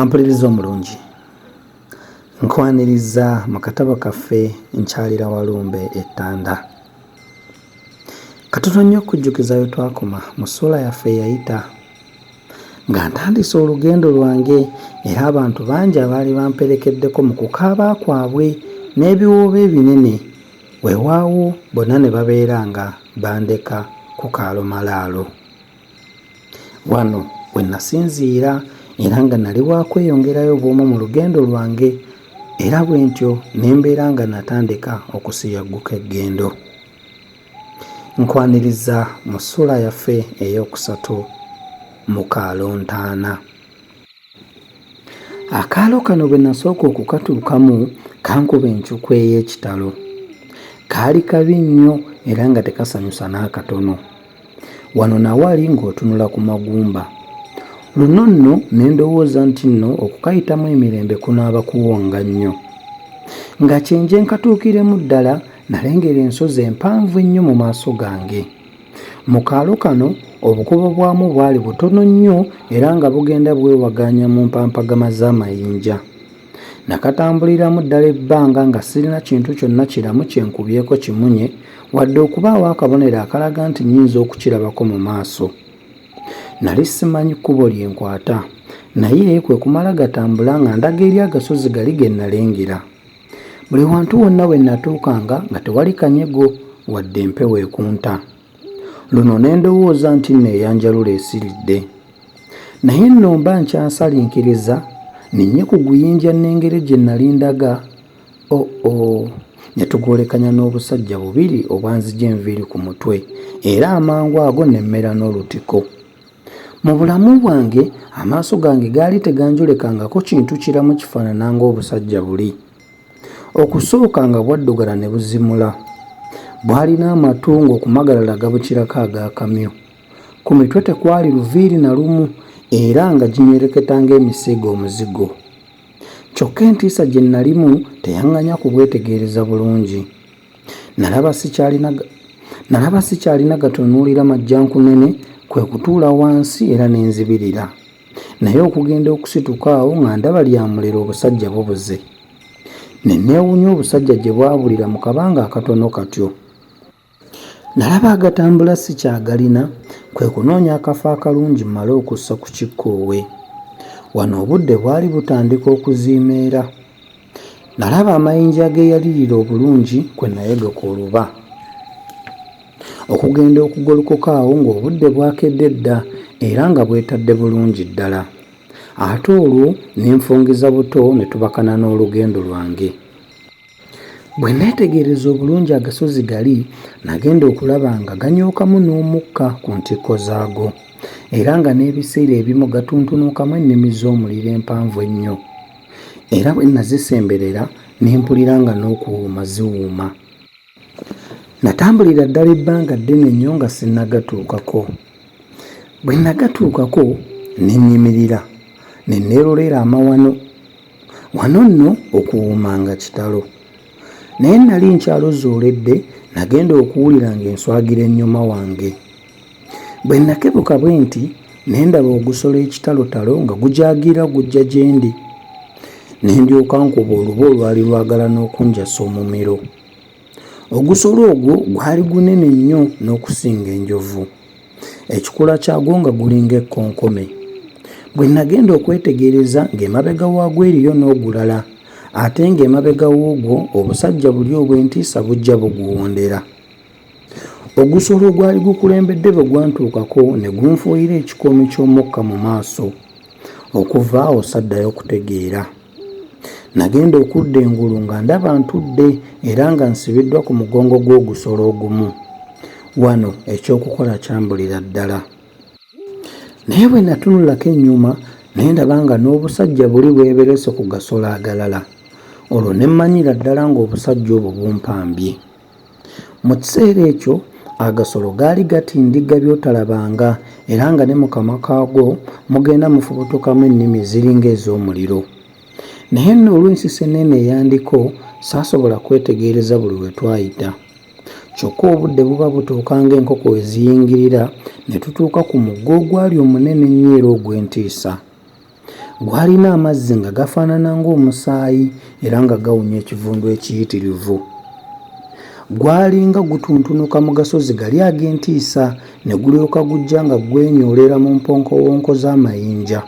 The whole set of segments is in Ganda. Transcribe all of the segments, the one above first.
ampuliriza omulungi nkwaniriza mu katabo kaffe nkyalira walumbe ettanda Katono nnyo okujjukiza we twakoma mu ssuula yaffe eyayita nga ntandise olugendo lwange era abantu bangi abaali bamperekeddeko mu kukaaba kwabwe n'ebiwoobe ebinene weewaawo bonna ne babeera nga bandeka ku kaalomalaalo. Wano we nasinziira era nga nali wakweyongerayo bw'omu mu lugendo lwange era bwe ntyo ne mbeera nga natandika okusiyagguka eggendo. Nkwaniriza mu ssuula yaffe ey'okusatu mu Kalontaana. Akaalo kano bwe nasooka okukatuukamu kankuba encukwe ey'ekitalo. Kaali kabi nnyo era nga tekasanyusa n'akatono. Wano na wali ng'otunula ku magumba. Luno nno ne ndowooza nti nno okukayitamu emirembe kunaaba kuwonga nnyo. Nga kyenje nkatuukiremu ddala nalengera ensozi empanvu ennyo mu maaso gange. Mu kaalo kano obukobo bwamu bwali butono nnyo era nga bugenda bwewagaanya mu mpampagama z'amayinja. Nakatambuliramu ddala ebbanga nga sirina kintu kyonna kiramu kye nkubyeko kimunye wadde okubaawo akabonero akalaga nti nnyinza okukirabako mu maaso. Nali simanyi kkubo lye nkwata naye kwe kumala gatambula nga ndaga eri agasozi gali ge nnalengera. Buli wantu wonna we natuukanga nga tewali kanyego wadde empewo ekunta. Luno ne ndowooza nti nno eyanjalula esiridde. Naye nno mba nkyasalinkiriza ninye ku guyinja nnengere gye nali ndaga o oh, o oh, ne tugwolekanya n'obusajja bubiri obwanzija enviiri ku mutwe era amangu ago ne mmera n'olutiko. Mu bulamu bwange, amaaso gange gaali teganjolekangako kintu kiramu kifaanana ng'obusajja buli. Okusooka nga bwaddugala ne buzimula. Bwalina amatu ng'okumagalala gabukirako ag'akamyu. Ku mitwe tekwali luviiri na lumu era nga ginyereketa ng'emisiige omuzigo. Kyokka entiisa gye nnalimu teyaŋŋanya kubwetegereza bulungi. Nalaba sikyalina nalaba sikyalina gatunuulira majjankunene kwe kutuula wansi era ne nzibirira. Naye okugenda okusituka awo nga ndaba lya muliro obusajja bubuze. Ne neewunya obusajja gye bwabulira mu kabanga akatono katyo. Nalaba agatambula sikyagalina kwe kunoonya akafo akalungi mmale okussa ku kikkoowe. Wano obudde bwali butandika okuziimeera. Nalaba amayinja ageyalirira obulungi kwe nayodoka oluba okugenda okugolokoka awo ng'obudde bwakedde dda era nga bwetadde bulungi ddala ate olwo ne nfungiza buto ne tubakana n'olugendo lwange bwe neetegereza obulungi agasozi gali nagenda okulaba nga ganyookamu n'omukka ku ntikko zaago era nga n'ebiseera ebimu gatuntunuukamu ennimi z'omuliro empanvu ennyo era bwe nazisemberera ne mpulira nga n'okuwuuma ziwuuma. Natambulira ddala ebbanga ddene nnyo nga sinnagatuukako. Bwe nagatuukako ne nnyimirira ne neerolera amawano. Wano nno okuwuuma nga kitalo. Naye nali nkyalozooledde nagenda okuwulira ng'enswagira ennyuma wange. Bwe nnakebuka bwenti, ne ndaba ogusolo ekitalotalo nga gujaagira gujja gyendi, ne ndyoka nkuba oluba olwali lwagala n'okunjasa omumiro. Ogusolo ogwo gwali gunene nnyo n'okusinga enjovu, ekikula kyagwo nga gulinga ekkonkome. Bwe nnagenda okwetegereza ng'emabega waagwo eriyo n'ogulala, ate ng'emabega w'ogwo obusajja buli obw'entiisa bujja buguwondera. Ogusolo ogwali gukulembedde bwe gwantuukako ne gunfuuyira ekikoomi ky'omukka mu maaso. Okuva awo saddayo kutegeera. Nagenda okudda engulu nga ndaba ntudde era nga nsibiddwa ku mugongo gw'ogusolo ogumu. Wano eky'okukola kyambulira ddala. Naye bwe natunulako ennyuma ne ndaba nga n'obusajja buli bweberese ku gasolo agalala. Olwo ne mmanyira ddala ng'obusajja obwo bumpambye. Mu kiseera ekyo agasolo gaali gatindigga by'otalabanga era nga ne mu kamwa kaago mugenda mufubutukamu ennimi ziringa ez'omuliro. Naye nno olw'ensisenneena eya Ndiko saasobola kwetegereza buli we twayita. Kyokka obudde buba butuuka ng'enkoko we ziyingirira ne tutuuka ku mugga ogwali omunene ennyo era ogw'entiisa. Gwalina amazzi nga gafaanana ng'omusaayi era nga gawunya ekivundu ekiyitirivu. Gwalinga gutuntunuka mu gasozi gali ag'entiisa ne gulyoka gujja nga gwenyoolera mu mponkowonko z'amayinja.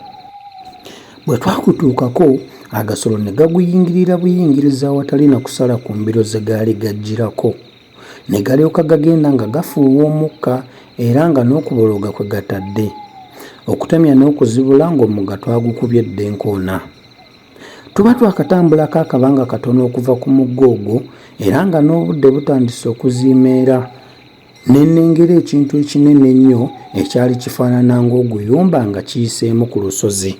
Bwe twakutuukako, agasolo ne gaguyingirira buyingirizi awatali na kusala ku mbiro ze gaali gajjirako. ne galyoka gagenda nga gafuuwa omukka era nga n'okubologa kwe gatadde okutemya n'okuzibula ng'omugga twagukubye dda enkoona tuba twakatambulako akabanga katono okuva ku mugga ogwo era nga n'obudde butandise okuziimeera ne nnengera ekintu ekinene ennyo ekyali kifaanana ng'oguyumba nga kiyiseemu ku lusozi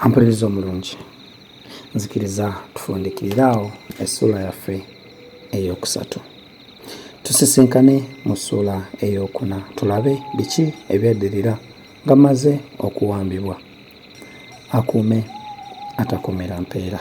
ampuliriza omulungi nzikiriza tufundikirire awo essuula yaffe eyokusatu tusisinkane mu ssuula eyokuna tulabe biki ebyaddirira nga maze okuwambibwa akuume atakuumira mpeera